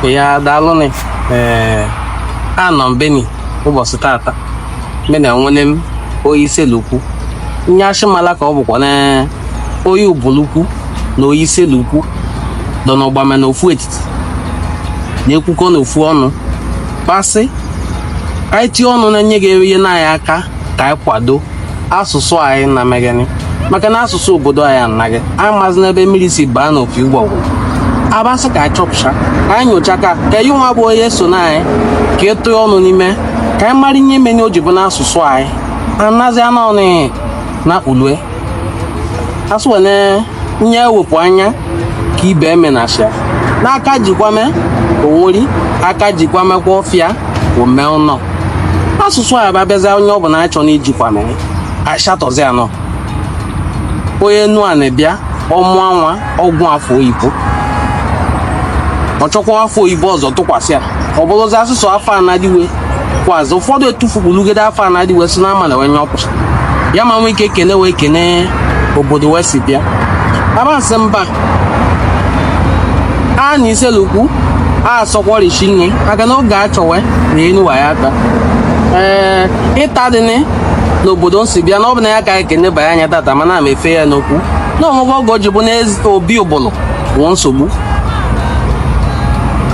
ya daalụnị ee anọ m beni ụbọchị tata bena nwere m onye Iselukwu nye achịmala ka ọ bụkwa na onye Ubulukwu na onye Iselukwu dọ n'ọgbame na ofu etiti na-ekwukọ n'ofu ọnụ kpasị anyị tie ọnụ na nye ga-enyere anyị aka ka anyị kwado asụsụ anyị na megani maka na asụsụ obodo anyị anaghị anyị amazi ebe mmiri si baa n'opi ụgbọgụrụ abasị ka anyị chọpụcha ka anyị nyocha ka ka anyị nwa bụ onye so na anyị ka e tụnye ọnụ n'ime ka anyị mara ihe meni o ji bụ na asụsụ anyị anazi anọnị na ulue asụ wene nye ewepụ anya ka ibe emenasịa n'aka jikwame onweri aka jikwame kwa ọfịa ome ụnọ asụsụ anyị ba bịazi onye ọ bụla achọ na ijikwame ashatọzi anọ onye Enuani bịa ọ mụa nwa ọ gụ afa oyibo ọ chọkwa afa oyibo ọzọ tụkwasị ya ọ bụrụzi asụsụ afa anadiwe kwazị ụfọdụ etufugbolugede afa a na-adị we sị na amala onye ọkwa ya ma nwee ike kene wee kene obodo we si bịa abasị mba a na iselukwu a sọkwọrichi nne maka na oge a chọwe na enuwa ya ata ee ịta dịnị n'obodo nsi bịa na ọ bụ na ya ka anyị kenebanye anya tata mana m efe ya n'okwu na onwegwe oge o ji bụ n'obi ụbụlụ bụ nsogbu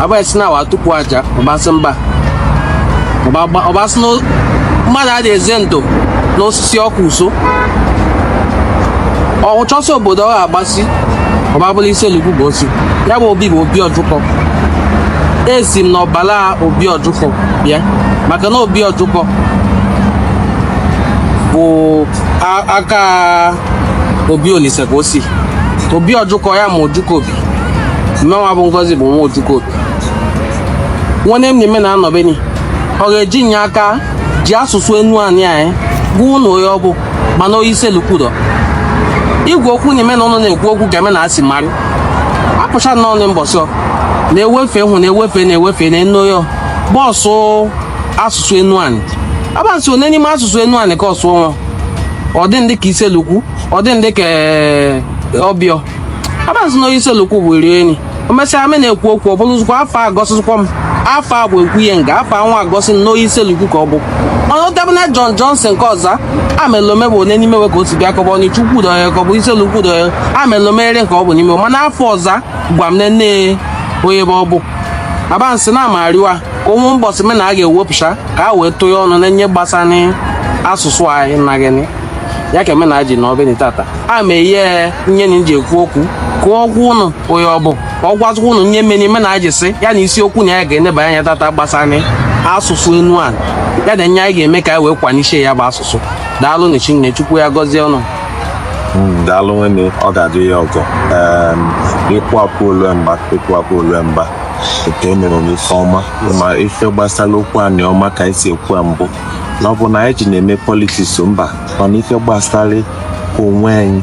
abụghị na awa tupu aja ọbasị mba ọbasị mmadụ adị eze ndụ n'osisi ọkụ uso ọchọsị obodo ọ ga-agbasi ọbabụla Iselukwu bụ osi ya bụ obi bụ obi ọjụkọ esi m n'ọbala obi ọjụkọ bịa maka na obi ọjụkọ bụ aka obi olise ka o si obi ọjụkọ ya ma ojukọ obi mmenwa bụ ngozi bụ nwa ojukọ obi nwanne m na-eme na a nọ beni ọ ga-eji nye aka ji asụsụ Enuani gwa ụnụ onye ọ bụ mana onye Iselukwu dọ igwe okwu na-eme na ụnụ na-ekwu okwu ga-eme na asị marị apụcha na ọnụ mbọsị ọ na-ewefe hụ na-ewefe na-ewefe na enu ya bọọsụ asụsụ Enuani abasị one n'ime asụsụ Enuani ka ọ sụọ nwa ọ dị ndị ka iselukwu ọ dị ndị ka eh, ọbịọ abasị na onye iselukwu bụ iri enyi o mesịa me na-ekwu okwu ọ bụrụ zụkwa afa egosikwa m afa a bụ ekwu ihe nga afa anwa egosi na onye iselukwu ka ọ bụ ọnụ debụna John Johnson nke ọ za amalọ m bụ onye n'ime ka o si bịa ka ọ bụ Ọnịcha Ukwu dọ ya ka ọ bụ Iselukwu dọ ya amalọ m ere ka ọ bụ n'ime mana afa ọ za gwa m nne onye bụ ọ bụ abasị na amariwa ka ụmụ mbọsị me na a ga-ewepụcha ka a wee tụọ ọnụ na nye gbasara asụsụ anyị na gịnị ya ka emena ji na ọbịa tata a ma ihe nye na ji ekwu okwu ka ọ gwa ụnụ onye ọ bụ ka ọ gwazikwa ụnụ nye meni ime na aji sị ya na isiokwu na ya ga-eneba anya tata gbasara asụsụ Enuanị ya na nye anyị ga-eme ka anyị wee kwanichie ya bụ asụsụ daalụ na oshinne chukwu ya gọzie ụnụ hmm, daalụ nwenne ọ ga-adị ya ọgọ ịkwapụ olue mba ịkwapụ olue mba nke e mere n'ife ọma ma ife gbasara okwu Anịọma ka anyị si ekwu ya mbụ na ọ bụ na anyị ji na-eme politiks mba mana ife gbasara onwe anyị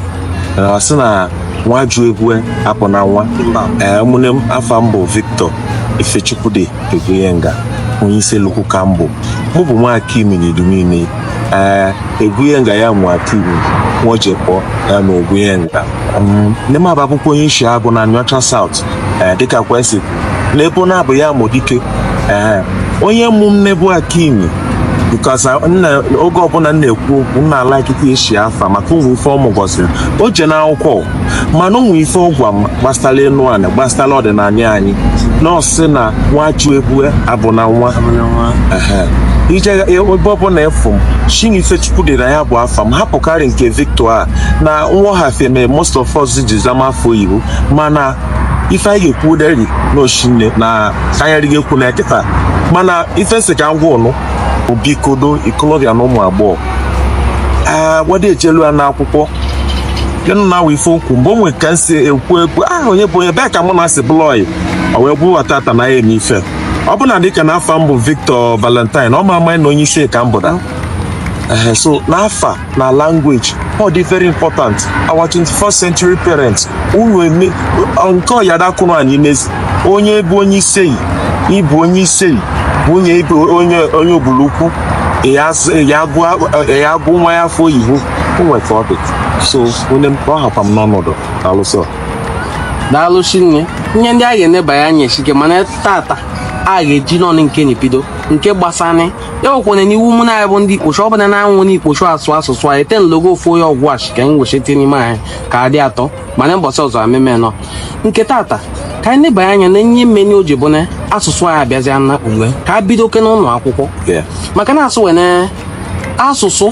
na ọ sị na nwa ju egwu abụ na nwa ee ụmụnne m afa m bụ Victor Ifechukwude Egwunyenga onye Isele-Ukwu ka m bụ mụ bụ nwa akimi na Idumuinei ee Egwunyenga ya nwa akimi nwa ojekpọ ya na Egwunyenga um, nne m abụkwụ onye Isheagụ na Aniocha South eh, dịka kwesị n'ebe ọ na-abụ ya mụ dike eh, onye mụ m nne bụ akimi because uh, nna oge ọbụla m na-ekwu okwu m na-ala ikike isi afa maka ụmụ ife ọ mụ kuziri o jena akwụkwọ mana ụmụ ife ọ gwa m gbasara Enuanị gbasara ọdịnala anyị na ọ sị na nwa ju egwu abụ na nwa Ehe. i je ebe ọbụla ị fụ m sị na Ifechukwude na ya bụ afa m hapụkarị nke victor a na nghọhafie mere most of us ji zama afa oyibo mana ife anyị ga-ekwu deri na oshinne na ka anyị adịghị ekwu na ya kịta mana ife m sị ka m gwa ụnụ bụ biko do ikolobịa na ụmụ agbọghọ ee wede echelu ya n'akwụkwọ gịnụ na awa ife okwu mgbe o nwere ka m si ekwu ekwu aha onye bụ onye bee ka mụ na asị blọị o wee bụrụ tata na ya eme ife ọ bụla dịka na afa m bụ Victor Valentine ọ ma ama na onye isi ka m bụda ehe so na afa na language ọ dị very important our 21st century parents unu eme nke ọyadakwụrụ anyị n'ezi onye bụ onye Isele ị bụ onye Isele nwunye ị bụ onye onye Ubulu-Ukwu ya agụ nwa ya afa oyibo o nwe ka ọ dị so onye m ọ hakwa m n'ọnọdụ alụsọ daalụ shinne ihe ndị a ga-enebanye anya esike mana tata a ga-eji nọ nke nị bido nke gbasara ya nwekwara n'iwu mụ na ya bụ ndị ikposho ọ bụla na-anwụ n'ikposho asụ asụsụ anyị ten logo ofu onye Ọgwashị ka anyị wechite n'ime anyị ka adị atọ mana mbọsị ọzọ ameme nọ nke tata ka anyị nebanye anya na ihe mmeni o ji bụ na asụsụ anyị abịazịa na uwe ka a bidokene n'ụnọ akwụkwọ maka na asụ wee na asụsụ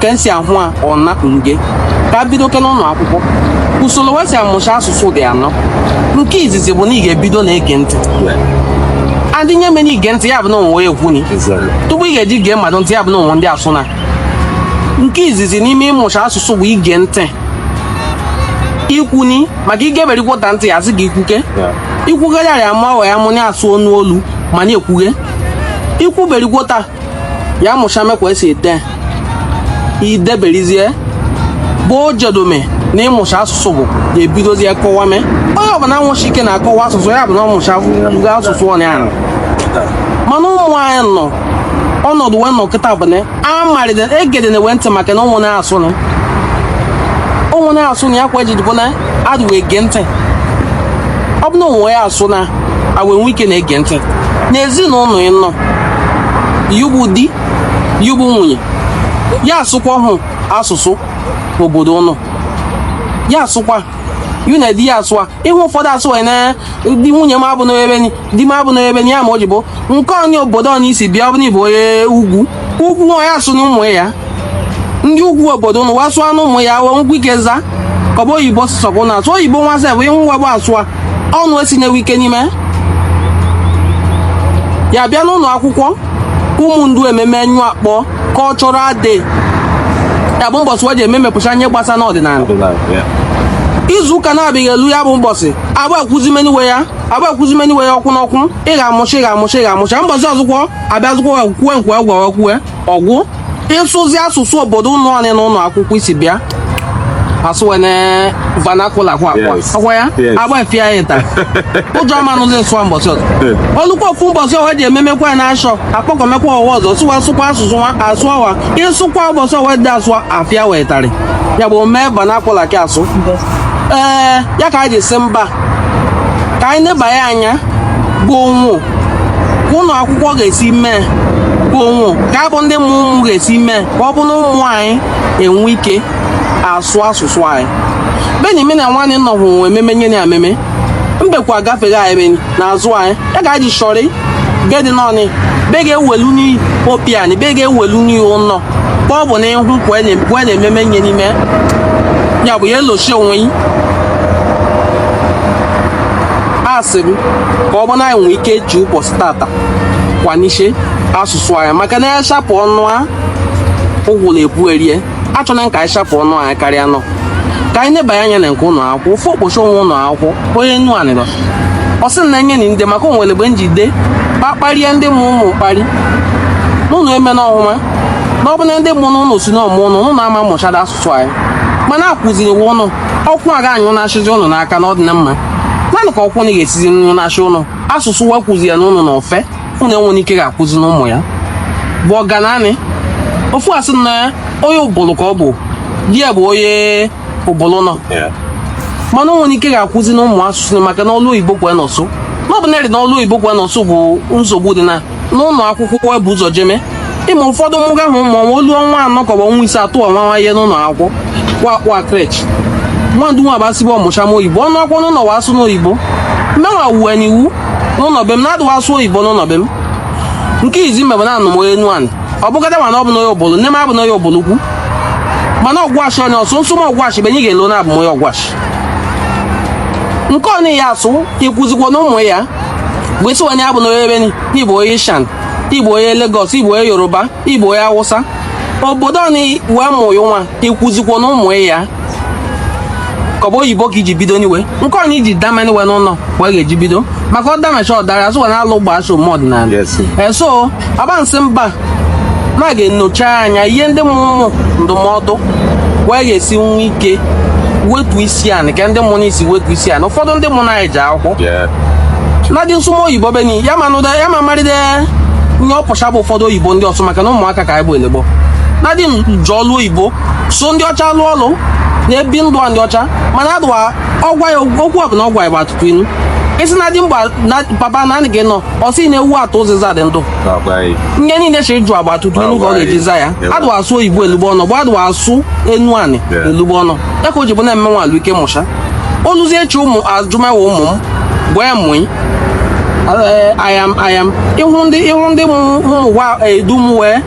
ka esi ahụ a ọ na nge ka a bido oke n'ụlọ akwụkwọ usoro we si amụcha asụsụ dị anọ nke izizi bụ na ị ga-ebido na-ege ntị adị nye mere ige ntị ya bụ na o nwe ekwuni tupu ị ga-eji gee mmadụ ntị ya bụ na o nwe ndị asụ na nke izizi n'ime ịmụcha asụsụ bụ ige ntị ikwuni maka i geberigwota ntị ya sị gị ikwuke ikwugharịarị ama ọghọ ya mụ na-asụ ọnụ olu ma na-ekwughe i kwuberigwota ya mụcha mekwa esi ede i deberizie bụ ojedome na ịmụcha asụsụ bụ ga-ebidozie kọwa mee onye ọbụla nwụchi ike na-akọwa asụsụ ya bụ na ọ mụchaga asụsụ ọnya ahụ mana ụmụ anyị nọ ọnọdụ wee nọ kịta bụ na amalite egede na-ewe ntị maka na ụmụ na-asụ na ụmụ na-asụ na ya kwa ejidibụ na adụ wee gee ntị ọ bụ na o nwe ya asụ na awe nwe ike na-ege ntị na ezinụlọ ị nọ yu bụ di yu bụ nwunye ya asụkwa hụ asụsụ obodo ụnụ ya asụkwa yu na di ya asụwa ị hụ ụfọdụ asị wa na di nwunye m abụ n'ebe di m abụ na ebe nye ya ma o ji bụ nke onye obodo ọ i si bịa ọ bụrụ ị bụ onye ugwu ugwu nwa ya sụ na ụmụ ya ndị ugwu obodo ụnụ wasụọ anụ ụmụ ya wee nwee ike za ka ọ bụ oyibo sọkwụ na asụ oyibo nwa sef ị hụ nwa bụ asụa ọnụ esi na-ewe ike n'ime ya bịa n'ụlọ akwụkwọ ụmụ ndu ememe anyị akpọ cultural day ya bụ mbọsị we ji eme mepụcha ihe gbasa n'ọdịnala izu ụka na-abịaghị elu ya bụ mbọsị a ga-akwụzimeni we ya a ga-akwụzimeni we ọkwụ n'ọkwụ ị ga-amụcha ị ga-amụcha ị ga-amụcha mbọsị ọzụkwọ abịa zụkwọ kwue nkwe agwa kwue ọgwụ ịsụzi asụsụ obodo ụlọ anyị na ụlọ akwụkwọ isi bịa asụwene vernacular kwa akwa ọkwa ya agba efi ya ịta ụjọ amanụzi nsụwa mbọsị ọzọ olukwa ofu mbọsị ọwa ji ememekwa na ashọ akpọkọmekwa ọwa ọzọ sụwa sụkwa asụsụ nwa asụọ wa ịsụkwa ụbọchị ọwa dị asụọ afịa wetari ya bụ mee vernacular ka asụ ee ya ka anyị ji sị mba ka anyị nebanye anya bụ o nwụ ka ụlọ akwụkwọ ga-esi mee bụ o nwụ ka anyị bụ ndị mụ ụmụ ga-esi mee ka ọ bụ na ụmụ anyị enwe ike asụ asụsụ anyị beni mena nwanne nọhụ ememe nye na ememe mgbekwa agafeghị anyị beni n'azụ anyị ya ga ji shọrị gedi nọnị be ga-ewelu n'iyi opiani be ga-ewelu n'iyi ụlọ ka ọ bụ na ịhụ we na-ememe nye n'ime ya bụ ya elochi onwe yi asị m ka ọ bụ na anyị nwee ike ji ụbọchị tata kwanishe asụsụ anyị maka na a shapụ ọnụ a ụgwụla ebu erie achọna ka anyị chapụ ọnụ anyị karịa nọ ka anyị nebanye anya na nke ụlọ akwụkwọ ofe okpochi onwe ụlọ akwụkwọ onye nnu anịrọ ọ sị na enye na ndị maka onwere mgbe njide kpakparịa ndị mụ ụmụ mkparị n'ụlọ eme na ọhụma na ọ bụ na ndị mụ n'ụlọ si n'ọmụ ụlọ ụlọ ama mụchara asụsụ anyị mana akụziri iwu ụlọ ọkwụ aga anyị ụlọ achịzi ụlọ n'aka na ọ dị na mma naanị ka ọkwụ na ga-esizi nri ụlọ achị ụlọ asụsụ wa kụzi ya n'ụlọ na ofe ụnụ enwere ike ga-akwụzi n'ụmụ ya bụ ọgananị ofu asị na onye ụbụlụ ka ọ bụ di ya bụ onye ụbụlụ ụnọ mana onwere ike ga-akwụzi na ụmụ asụsụ maka na ọlụ oyibo kwa nọsụ n'ọbụ na na ọlụ oyibo kwa nọsụ bụ nsogbu dị na n'ụlọ akwụkwọ bụ ụzọ jeme ịma ụfọdụ mụga ahụ ma ọnwa olu ọnwa anọ ka ọ bụ ọnwa ise atụ ọnwa nwa ihe n'ụlọ akwụkwọ kwa kwa creche nwa ndu nwa basịbụ ọ mụcha m oyibo ọnụ akwụkwọ n'ụlọ wa asụ n'oyibo mmewa wuwe n'iwu n'ụnọ be m na adụwa asụ oyibo n'ụnọ be m nke izi mebe na anụ m onye enuani ọ bụgada mana ọ bụ n'onye ụbụlụ nne m abụ n'onye ụbụlụ ukwu mana ọgwashi onye ọ sụ nsụ m ọgwashi benye ga-elo na abụ m onye ọgwashi nke ọ na ya asụ ịkwụzikwa na ụmụ ya bụ isi onye abụ n'onye ebe nị ị bụ onye ishan ị bụ onye lagos ị bụ onye yoruba ị bụ onye awụsa obodo ọ nọ wee mụ ya nwa ịkwụzikwa na ụmụ ya ka ọ bụ oyibo ka iji bido niwe nke onye iji dama niwe n'ụlọ wee ga-eji bido maka ọ damacha ọdara asụkwa na alụ gbaa so ụmụ ọdịnala eso abansị mba ma ga-enyocha anya ihe ndị mụmụ ndụmọdụ wee ga-esi nwa ike wetu isi anị ka ndị mụrụ isi wetu isi anị ụfọdụ ndị mụrụ anyị ji akwụkwọ na dị nsụmọ oyibo beni ya ma nụda ya ma maride ihe ọ pụcha bụ ụfọdụ oyibo ndị ọ sụ maka na ụmụaka ka anyị bụ elegbo nna di m je ọlụ oyibo so ndị ọcha lụọ ọlụ na-ebi ndụ ndị ọcha mana adụwa ọgwa ya okwu ọ bụla ọ gwa ya bụ atụtụ inu isi na dị mgba na papa na anị gị nọ ọ sị na-ewu ata ụzịza dị ndụ ihe niile chiri jụ agba atụtụ inu ka ọ ga-eji za ya adụwa asụ oyibo elugbo ọnụ bụ adụwa asụ enuani elugbo ọnụ ya ka o ji bụ na-eme nwa alụike mụcha oluzie chi ụmụ ajụmawa ụmụ m gwa ya mụị ayam ayam ịhụ ndị ịhụ ndị mụ ụwa edu m wee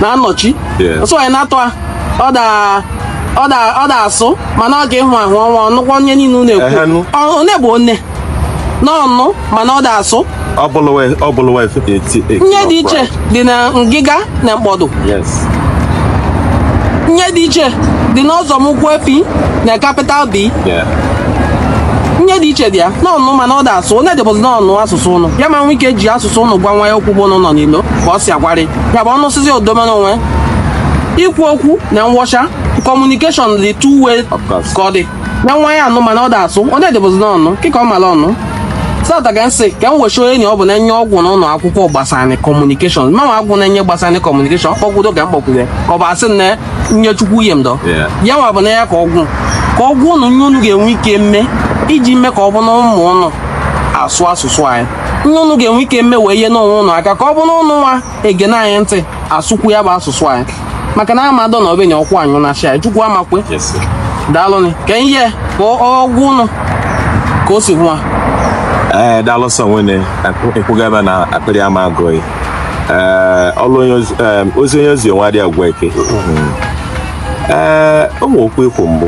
na-anọchi ọsọ ya na-atụ a ọ daa ọ da ọ da asụ mana ọ ga-ehụ ahụ ọnwa ọ nụkwa ihe niile unu na-ekwu one bụ one na ọ nụ mana ọ da asụ ihe dị iche dị na ngịga na mkpọdụ ihe dị iche dị n'ọzọ m ụkwụ efi na capital b ihe dị iche dị ya na ọ nụ mana ọ da asụ onye dịbụzi n'ọnụ asụsụ ụnọ ya ama nwe ike ji asụsụ ụnọ gwa nwa ya okwu bụ ụnụ nọ n'ilo ka ọ si agwarị ya bụ ọnụsịzi odomere onwe ikwu okwu na ngwụcha kọmunikeshọn dị two way ka ọ dị na nwa ya anụ mana ọ dị asụ ọ na-edebụzi n'ọnụ kịta ọ mara ọnụ sata ka nsị ka m wechi onye ọ bụ na-enye ọgwụ n'ụlọ akwụkwọ gbasara kọmunikeshọn manwa agwụ na-enye gbasara kọmunikeshọn kpọkwudo ka m kpọkwude ka ọ bụ asị na nye chukwu uhie m dọ ya nwa bụ na ya ka ọ gwa ka ọ gwa ụnụ nye unu ga-enwe ike mme iji mee ka ọ bụ na ụmụ ụnụ asụ asụsụ anyị ihe unu ga-enwe ike mme wee nyere onwe ụnụ aka ka ọ bụ na ụnụ nwa egene anyị ntị asụkwu ya bụ asụsụ anyị maka na amadọ na obenye ọkwụ anyụ na shia chukwu amakwe daalụnị ka ihe ka ọ gwa ụnụ ka o si nwa ee eh, daalụ sọ nwene ekwuga ebe na akpịrị ama agụ gị ee eh, ọlụ eh, ozi onye ozi onwe adịghị agwa eke mm-hmm. ee ụmụ okwu ikwu mbụ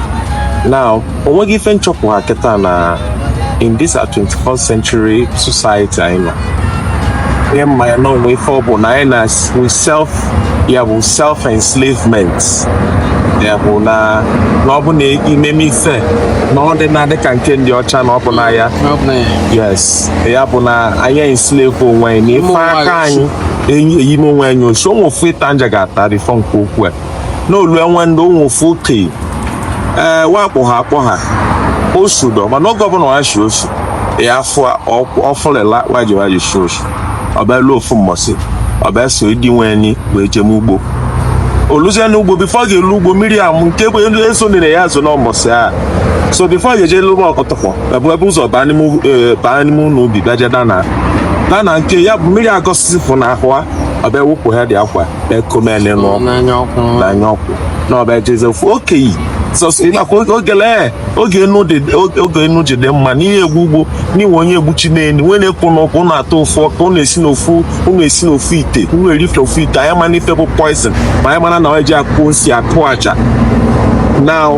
Now, onweghị ife m chọpụta kịta na in this 21st century society anyị nọ n'ime ya na o nwe ife ọ bụ na anyị na we self ya bụ self enslavement ya bụ na na ọ bụ na i meme ife na ọ dị na-adị ka nke ndị ọcha na ọ bụ na ya yes ya bụ na anyị enslave onwe anyị na ife aka anyị e ji me onwe anyị osi ụmụ ofu ịta m ga-ata bifo nke okwu a n'olu enwe ndị ụmụ ofu okenye ee wa kpọ ha akpọ ha osu dọ mana oge ọbụla ha shi osu ya afọ ọfụlịla waji waji shi osu ọ bịa elu ofu mbọsị ọ bịa so ndị nwe ni wee jeme ugbo o luzie na ugbo bifo ọ ga-elu ugbo mmiri amụ nke bụ elu eso nere ya azụ na mbọsị a so bifo ọ ga-eje lụba ọkọtọkọ ebe ebe ụzọ baa n'ime u- eh, baa n'ime ụlọ ubi bịaje dana dana nke ya bụ mmiri agọsịsị fụ na ahụ a ọ bịa ewepụ ha dị akwa na-ekomene ṅụọ na-anya ọkụ na-anya ọkụ na ọ bịa ejeze ofu okenye sọsọ ị makwa oge- oge lee oge enu dị oge- oge enu ji dị mma n'ihe egwu ugbo n'iwe onye egbuchi n'elu nwee na-ekwu n'ụkwụ ụnụ atọ ọ fụ ka ụnụ esi n'ofu ụnụ esi n'ofu ite ụnụ eri ife ofu ite anyị mana ife bụ poison ma anyị mana na e ji akụ nsi akụ aja na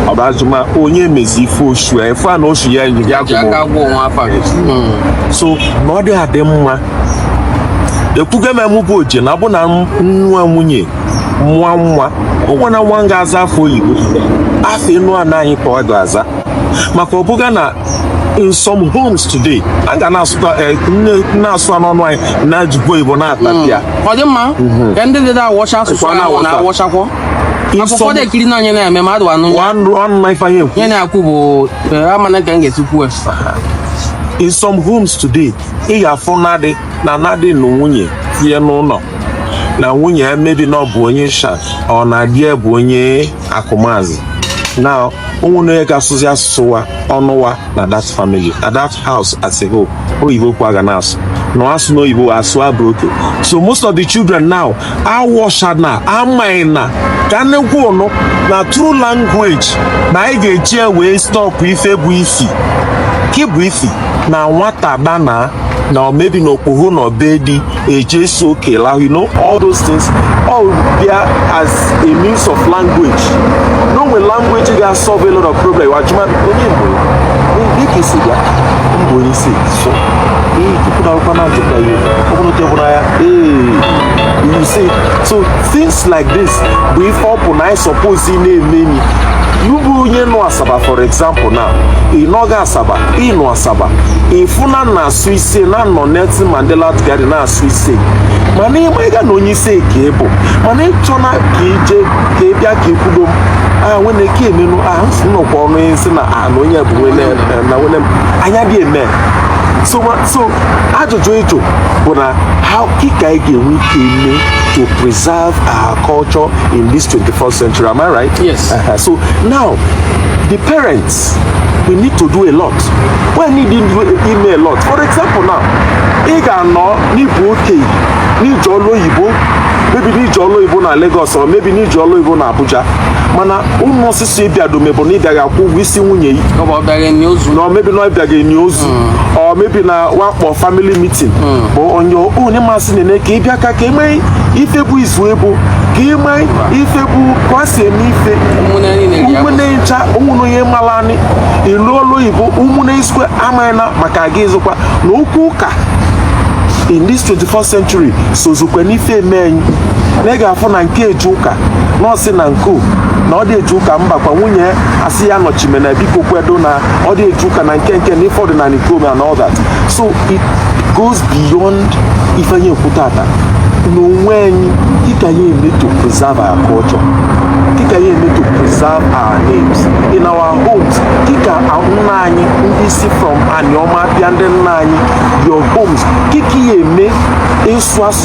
ọbazuma onye mezi ife osu ya ife a na osu ya enyi ya ji aka gụọ gụọ nwa afa gị so na ọ dị adị mma ekwugo m ya mbụ ọ je na-abụ na m nụa nwunye nwa nwa ụgwọ na nwa m ga-aza afa oyibo afa enu ana anyị ka ọ ga-aza maka ọ bụga na in some homes today a ga na-asụta eh, na-asụ n'ụnọ anyị na-ejikwa oyibo na-atapịa hmm. ọ dị mma mhm. ka ndị dị na-awọcha asụsụ ahụ na-awọchakwọ akwụkwọ dị ekiri na onye na-eme mmadụ anụ ya na-ekwu bụ eh, amana ka m ga-esi kwu in some homes today ị ga-afụ na di na na di na nwunye tinye n'ụnọ na nwunye ya maybe na ọ bụ onye sha ọ na di ya bụ onye Akumazi na o nwene onye ga-asụzi asụsụ wa ọnụ wa na that family na that house as a whole oyibo ka a ga na-asụ na asụ n'oyibo asụa broken so most of the children now awọshana amaina ka nnekwu ụnụ na through language na anyị ga-eji ya wee stop ife bụ isi kị bụ isi na nwata dana na maybe na okpogho na obedi eje so kela you know all those things all there as a means of language na o nwe language ga solve a lot of problem wa jụma onye mgbe dịka isi bịa mgbe onye isi so ihe tupu na akwụkwọ na-ajụkwa ya ọ bụrụ na ọ ya you see so things like this bụ ife ọ bụ na anyị suppose na-eme enyi you bụ onye nọ Asaba for example na ị nọghị Asaba ị nọ Asaba ị fụ na na asụ ise na nọ Nelson Mandela Garden na asụ ise mana ị ma ịga na onye ise ka ị bụ mana ị chọna ka ị je ka ị bịa ka ị kwudo a nwene ka emenu a nnọkwa ọnụ isi na a na onye bụ nwene na nwene anya dị eme so so ajụjụ ị jụ bụ na how kị ka anyị ga-enwe ike ime to preserve our culture in this 21st century am I right? Yes. Uh -huh. so now the parents we need to do a lot we need ime a lot for example now ị ga-anọ na ị bụ okenye na ị je ọlụ oyibo maybe na ị je ọlụ oyibo na Lagos or maybe na ị je ọlụ oyibo na Abuja mana ụmụ si ị bịa do maybe na ị bịa ga-akwụ ụgwọ isi nwunye yi na ọ bịa ga-eni ozu na or maybe na ọ bịa ga-eni ozu or maybe na wa kpọ family meeting bụ onye onye masị na-ene ka ị bịa ka ka eme ife bụ izu ebu ka ime ife bụ ka ọ si eme ife ụmụnne niile ji ya ụmụnne ncha ụmụnne onye mara anyị ịlụ ọlụ oyibo ụmụnne isikwe amaghị na maka aga ịzụkwa na okwu ụka in this 21st century sozukwe n'ife eme anyị na ị ga-afụ na nke eje ụka na ọ sị na nke o na ọ dị eje ụka mba kwa nwunye asị ya nọchimena biko kwedo na ọ dị eje ụka na nke nke na ife ọdịnanị ka o me and all that so it goes beyond ife anyị ekwu tata na onwe anyị kị ka anyị eme to preserve our culture kị ka anyị eme to preserve our names in our homes kị ka nna anyị ndị si from Anioma bịa ndị nna anyị your homes kị ka ya eme ịsụ asụ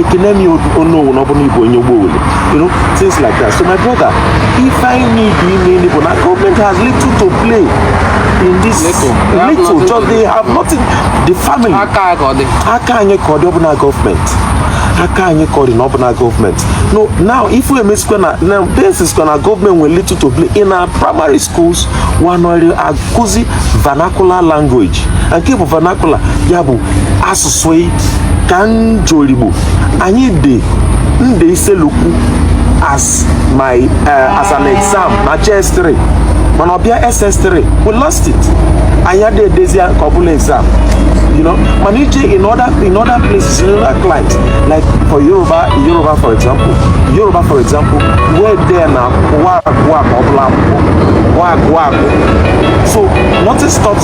ekene m ya onowu na ọ bụrụ ị bụ onye ụgbọ owere you know things like that so my brother if i need you ime ndị bụ na government has little to play in this little, little just they have nothing the family aka anyị ka ọ dị ọbụla gọọmenti aka anyị ka ọ dị na ọbụla gọọmenti no now if we emesikwa na na besikwa na gọọmenti nwere little to play in our primary schools wa anọrị akụzi vernacular language nke bụ vernacular ya bụ asụsụ sweet ka njorigbo anyị dị ndị Issele-Uku as my uh, as an exam na JS3 mana ọ bịa ss3 we lost it anyị adị edezi ka ọ bụlụ exam you know mana i je in other in other places in other climes like for yoruba yoruba for example yoruba for example wa ede na wa agụ a ka ọ bụlụ akwụkwọ wa agụ agụ so nothing stops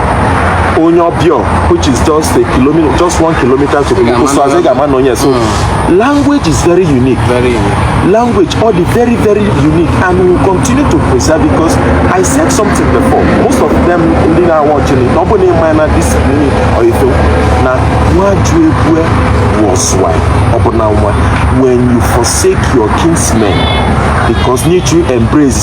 onye Obior which is just a kilometer just one kilometer to Ubulu-Uku so as ị ga-ama na onye so hmm. language is very unique very unique language ọ dị very very unique and we will continue to preserve because I said something before most of them ndị na-awatchịrị na ọ bụ na ị ma na this meaning or ife na nwa ju ebue was why ọ bụ na nwa when you forsake your kinsmen because need to embrace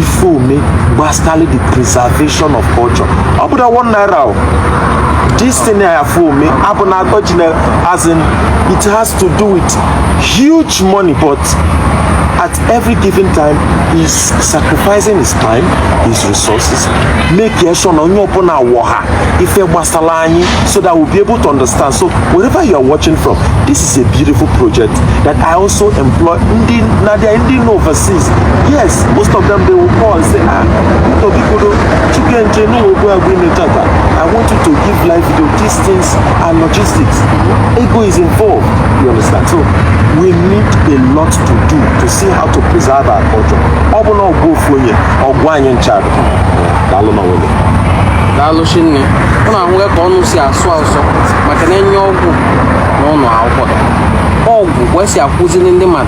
ife ọ me gbasara the preservation of culture ọ bụrọ one naira o this thing I have for me abụ na atọ ji na as in it has to do with huge money but at every given time he's sacrificing his time his resources make ya sure na onye ọbụla wọta ife gbasara anyị so that we'll be able to understand so wherever you are watching from this is a beautiful project that I also implore ndị na ndị nọ overseas yes most of them they will call and say ah biko do chukenje no ogo agbe me tata i want you to give live video these things are logistics ego is involved you understand so we need a lot to do to see how to preserve our culture ọ bụ na ọgụ ofu onye ọgụ anyị ncha daalụ na nwunye daalụ shinne ụnụ ahụghị ka ụnụ si asụ asụ maka na enye ọgwụ na ụnọ akwụkwọ ọgwụ kwesị akụziri ndị mmadụ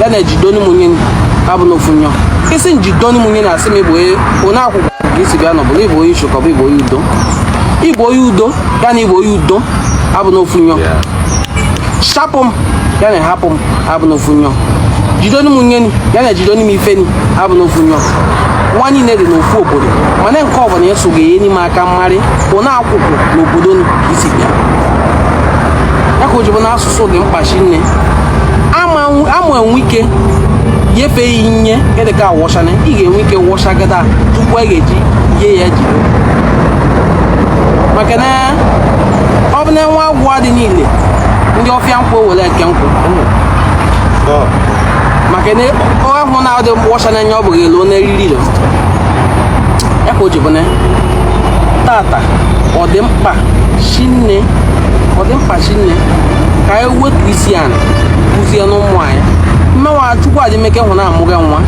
ya na jidoni m nye abụ na ofu nyọ ị sị jidoni m nye na asị m ị bụ onye akụkụ ka i si bịa n'Ubulu ị bụ onye Isho ka ọ bụ ị bụ onye Udo ị bụ onye Udo ya na ị bụ onye Udo abụ na ofu nyọ shapụ m ya na hapụ m abụ na ofu nyọ jidoni m nye ya na jidoni m ife ni abụ na ofu nyọ wa niile dị n'ofu obodo mana nke ọbụla ị ya-asụ ga-enye m aka m marị onye akụkụ n'obodo i si bịa ya ka o ji bụ n'asụsụ sụ dị mkpa shinne a ma enwe ike nyefee ya inye edeka awọchana ị ga-enwe ike wọchagodo tupu a ga-eji yie ya jide maka na ọ bụ na nwa agwọ dị niile ndị ọfịa nkwụ were eke nkwụ maka na ahụ na-adị mkpọcha na-enye ọ bụghị elu n'eriri ilo ya ka o ji bụ na tata ọ dị mkpa shinne ọ dị mkpa mkpa shinne ka anyị wetu isi ala kụziere ụmụ anyị mmenwa chukwu adịmeke hụ na amụghị nwa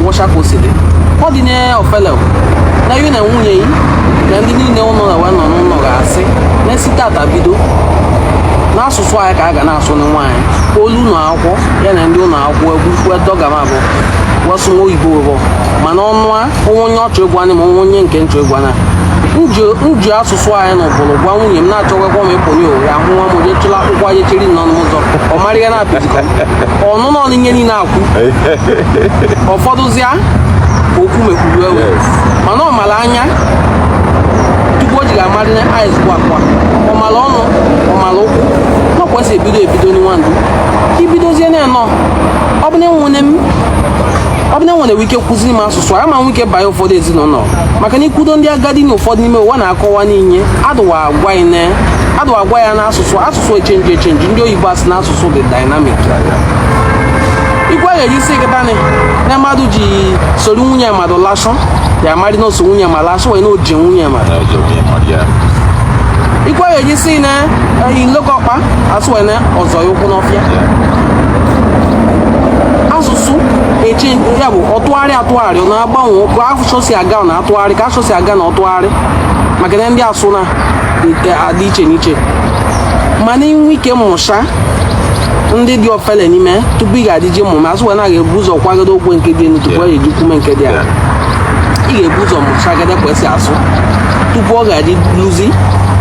wụcha ka o si dị ọ dị nye ofele na ya na nwunye ya na ndị niile ụlọ na wee nọ n'ụlọ ga-asị na e si tata bido na asụsụ anyị ka a ga na-asụ na nwa anyị o lu ụlọ akwụkwọ ya na ndị ụlọ akwụkwọ egwu kwetọ gama bụ wasụ nwa oyibo bụ mana ọnụ a o nwe onye ọ chọ egwu anyị ma o nwe onye nke nchọ egwu anya m ji asụsụ anyị na ụbụrụ gwa nwunye m na-achọgwakwa m ịpụnye owe ya hụ nwa m onye chịla akwụkwọ anyị chiri nọ n'ụzọ ọ mara ihe na-apịzikọ ọnụnọ ọnụ ihe niile a na-ekwu ọ fọdụzịa okwu mekpuru ewe mana ọ mara anya tupu o ji ga-amarị na eyes bụ akwa ọ mara ọnụ ọ mara ụkwụ ọ kwesịrị ebido ebido na nwa ndụ i bidozie na enọ ọ bụ na enwene m ọ bụ na nwere ike kụziri m asụsụ a ma nwe ike banye ụfọdụ ezinụlọ maka na i kwudo ndị agadi na ụfọdụ n'ime ụwa na-akọwa n'inye adụwa agwa ine adụwa agwa ya n'asụsụ asụsụ echenji echenji ndị oyibo asị na asụsụ dị dynamic ikwe ghere isi gịtanị na mmadụ ji soro nwunye mmadụ laa asị ya amarị na o so nwunye mmadụ laa asị wee na o ji nwunye mmadụ ikwe ghere isi na eyi nlekọkpa asị wee na ọ zọ ya ụkwụ n'ọfịa na-asụ eche ya bụ ọ tụgharị atụgharị ọ na-agbanwe ka asụsụ si aga ọ na-atụgharị ka asụsụ si aga na ọ tụgharị maka na ndị asụ na-adị iche n'iche mana i nwe ike mụcha ndị dị ofele n'ime tupu ị ga-eji mụme asị wee na ga-ebu ụzọ kwagodo okwe nke dị elu tupu ọ ga-eji kwume nke dị ala ị ga-ebu ụzọ mụchagodo ka esi asụ tupu ọ ga-eji luzi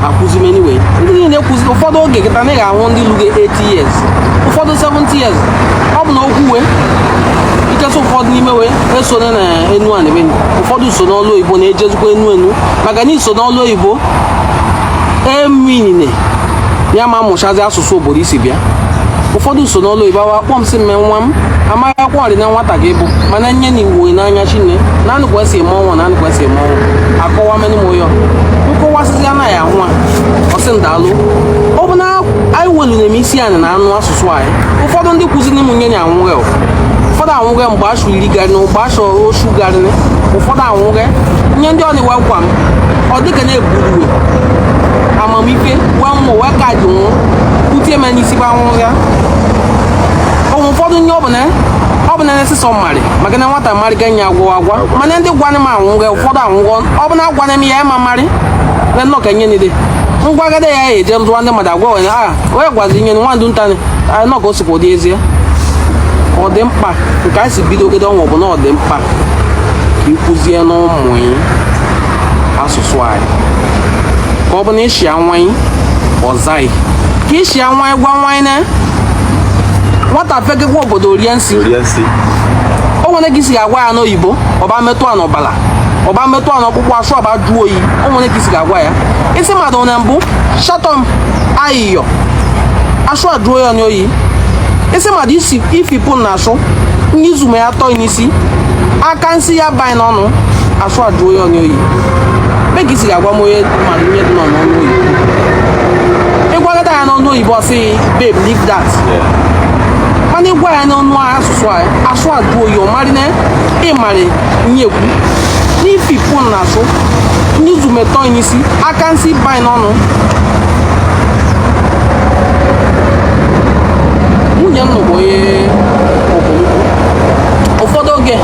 akụzi meniwe ndị niile kụzi ụfọdụ oge kịta na ị ga-ahụ ndị lugo 8 80 years ụfọdụ 70 years ọ bụ na okwu wee nkesa ụfọdụ n'ime wee esonye na enu a na-eme ụfọdụ so n'ọlụ oyibo na-ejezikwa enu enu maka na i so n'ọlụ oyibo eminine ya ma mụchazi asụsụ obodo i si bịa ụfọdụ so n'ọlụ oyibo awa kpọ m sị mme nwa m amaghị akwụkwọ ọrị na nwata gị bụ mana nye na iwu n'anya shinne na anụ ka esi eme ọnwa na anụ ka esi eme ọnwa akọwa menụ m ụyọ nkọwasịzi anaghị ahụ a ọ sị m daalụ ọ bụ na anyị welu na-eme isi anyị na-anụ asụsụ anyị ụfọdụ ndị kụziri m nye nya anwụghị ụfọdụ anwụghị mgbe asụ iri garị na mgbe asụ osu garị ụfọdụ anwụghị nye ndị ọnwa gwa m ọ dịka na-eburu uwe amamife gwa mụ wee ka dị nwụ kutie m n'isi bụ anwụ ya onwe ụfọdụ nye ọbụla ọ bụ na ndị sịsọ mmarị maka na nwata mmarị ga nye agwa agwa mana ndị gwanị m anwụghị ụfọdụ anwụghọ ọ bụ na agwanị m ya ịma mmarị na nnọọ ka nye nile ngwagada ya eje ndụwa ndị mmadụ agwa onye aha onye gwazi nye nwa ndụ ntanị anyị nọ ka o sikwa ụdị ezie ọ dị mkpa nke anyị si bidogede ọnwa bụ na ọ dị mkpa ka ịkụzie n'ụmụ anyị asụsụ anyị ka ọ bụ na ịshịa nwa ị ọ za ị ka ịshịa nwa ị gwa nwa ị na nwata fegekwa obodo rie nsị o nwere ka isi ga-agwa ya n'oyibo ọba metụ a n'ọbala ọba metụ a n'ọkpụkpụ asụ ọba jụọ oyi o nwere ka isi ga-agwa ya ị sị mmadụ na mbụ shatọm ayịyọ asụ ajụọ ya n'oyi ị sị mmadụ ifipụ na asụ n'izume ya atọ n'isi aka nsị ya banye n'ọnụ asụ ajụọ ya n'oyi mee ka isi ga-agwa m onye mmadụ ihe dị n'ọnụ oyibo ịgwagata ya n'ọnụ oyibo ọ sị babe leave that mana ịgwa ya n'ọnụ asụsụ asụ ajụọ oyi ọ marị na ịmarị nyekwu n'ifipụ na asụ n'izu metọ n'isi aka nsị banye n'ọnụ nwunye m bụ onye ụfọdụ oge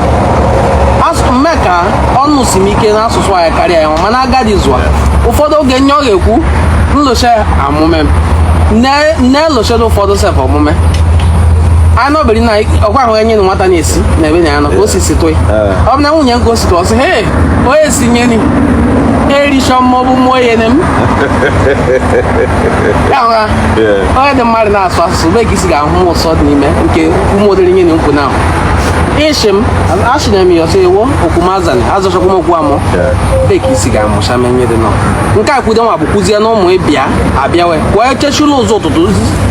mme ka ọnụ si m ike n'asụsụ anyị karịa ya mana agadi zụa ụfọdụ oge nye ọ ga-ekwu nlocha amụme m na-elochado ụfọdụ sef omume anọbiri na ọkwa ahụ enye na nwata na-esi na ebe na ya nọ ka o si sikwe ọ bụ na nwunye m gosiri ọ sị he onye si nye ni erichọ m maọbụ mụọ ya ne m onye dị mmadụ na-asụ asụsụ be ka isi ga-ahụ ụsọ dị n'ime nke ụmụodere nye na nkwụ na ịchị m achịna m ya ọsọ ewo okwumazani azọchakwa m okwu amụ be ka isi ga-amụcha m nye dị nọ nke a kwudo nwa bụ kuzie na ụmụ ịbịa abịawe kwụọ echechula ụzọ ụtụtụ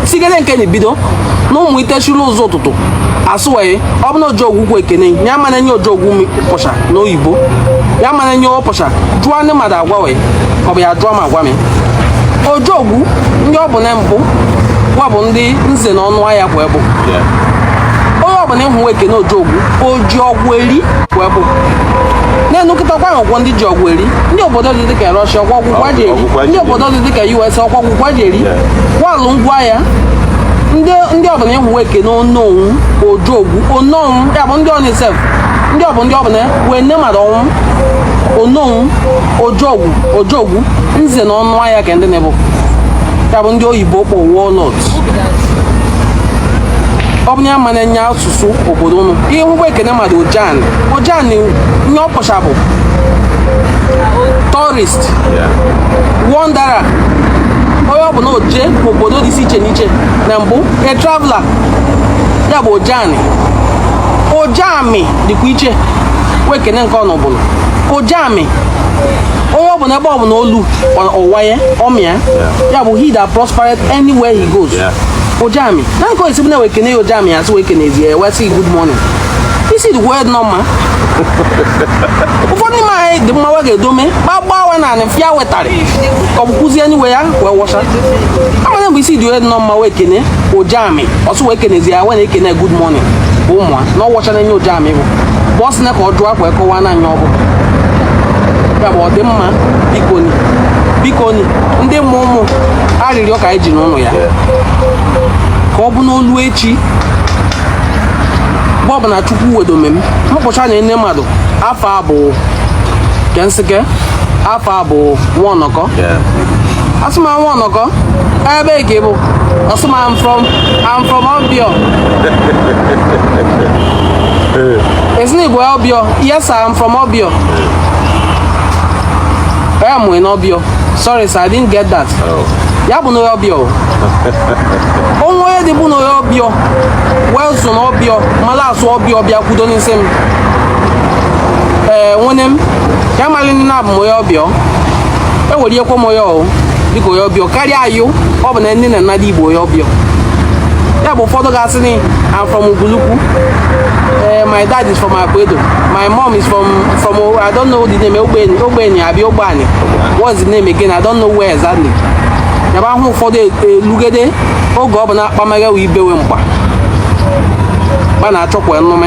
sigede nke na-ebido na ụmụ itechula ụzọ ụtụtụ asụwee ọ bụ na ojogwu ekene ya mana nye ojogwu pụcha n'oyibo ya mana nye ọ pụcha jụọ ndị mmadụ agwa wee ọ bụ ya jụọ m agwa m ojogwu ndị ọ bụ na mbụ gwa bụ ndị nze na ọnụ ahịa bụ ebụ onye ọbụla ịhụ ekene ojogwu oji ọgwụ eri bụ ebụ na-enukịta ọkwa ọgwụgwọ ndị ji ọgwụ eri ndị obodo dị dịka Russia ọkwa ọgwụ wa ji eri ndị obodo dị dịka US ọkwa ọgwụ wa ji eri walụ ngwa aya ndị ọbụla ị hụ wa ekene ononwu ojogwu ononwu ya bụ ndị ọnisef ndị ọbụ ndị ọbụla wee nne mmadụ ọnwụ ononwu ojogwu ojogwu nze na ọnụ aya ka ndị na-ebu aya bụ ndị oyibo kpọ warlords ọ bụ ya mana enye asụsụ obodo ụnụ ị hụ wa ekene mmadụ ojami ojami nye ọ kpọcha bụ tourist wanderer onye ọbụla oje obodo dị iche iche na iche na mbụ a traveler ya bụ ojami ojami dịkwa iche wee kene nke ọnụ bụrụ ojami onye ọbụla ebe ọbụla o lu ụwa ya ọ mịa ya bụ he that prospered anywhere he goes ojami na nke a sị bụ na wee kene ya ojami a sị wee kenezi ya wee sị good morning isi dị wa nọ mma ụfọdụ n'ime anyị dị mma wa ga-edome gbagbawa na anị fịa wetara ka ọ bụ kụzie n'iwe ya wee wọcha amana mgbe isi dị onye nọ mma wee kene ojami a sị wee kenezi ya wee na-ekene good morning bụ ụmụa na ọ wọchara nye ojami bụ bụ ọ sị na ka ọ jụọ ka wa kọwaa na anya ọ bụ ya bụ ọdịmma bikoni bikoni ndị mụ ụmụ arịrịọ ka anyị ji n'ụlọ ya ka ọ bụ na o lu echi mgbe ọbụla chukwu wedome m mkpụcha na ene mmadụ afa bụ kensike afa bụ nwa ọnọkọ A sị m nwa ọnọkọ ebe ka ị bụ a sị m I'm from I'm from Obio a sị na ị bụ Obio yes sir I'm from Obio a mụ ị na Obio sorry sir I didn't get that oh. ya bụ onye Obio o nwe onye dị bụ onye Obio wee so na Obio mara asụ Obio bịa kwudo n'isi m ee wee ne m ya mara nne na abụ m onye Obio enwere ihe kwom onye ọhụ dịka onye Obio karịa ayụ ọ bụ na nne na nnadị ị bụ onye Obio ya bụ ụfọdụ ga-asị na I'm from Ubulu-Ukwu eh, my dad is from Akwedo my mom is from from I don't know the name Ogbenye Ogbenye abi Ogbani what's the name again I don't know where exactly ya bụ ahụ ụfọdụ elugede e, oge ọ bụ na akpamaghị ibe wa mgba ba na-achọkwa enume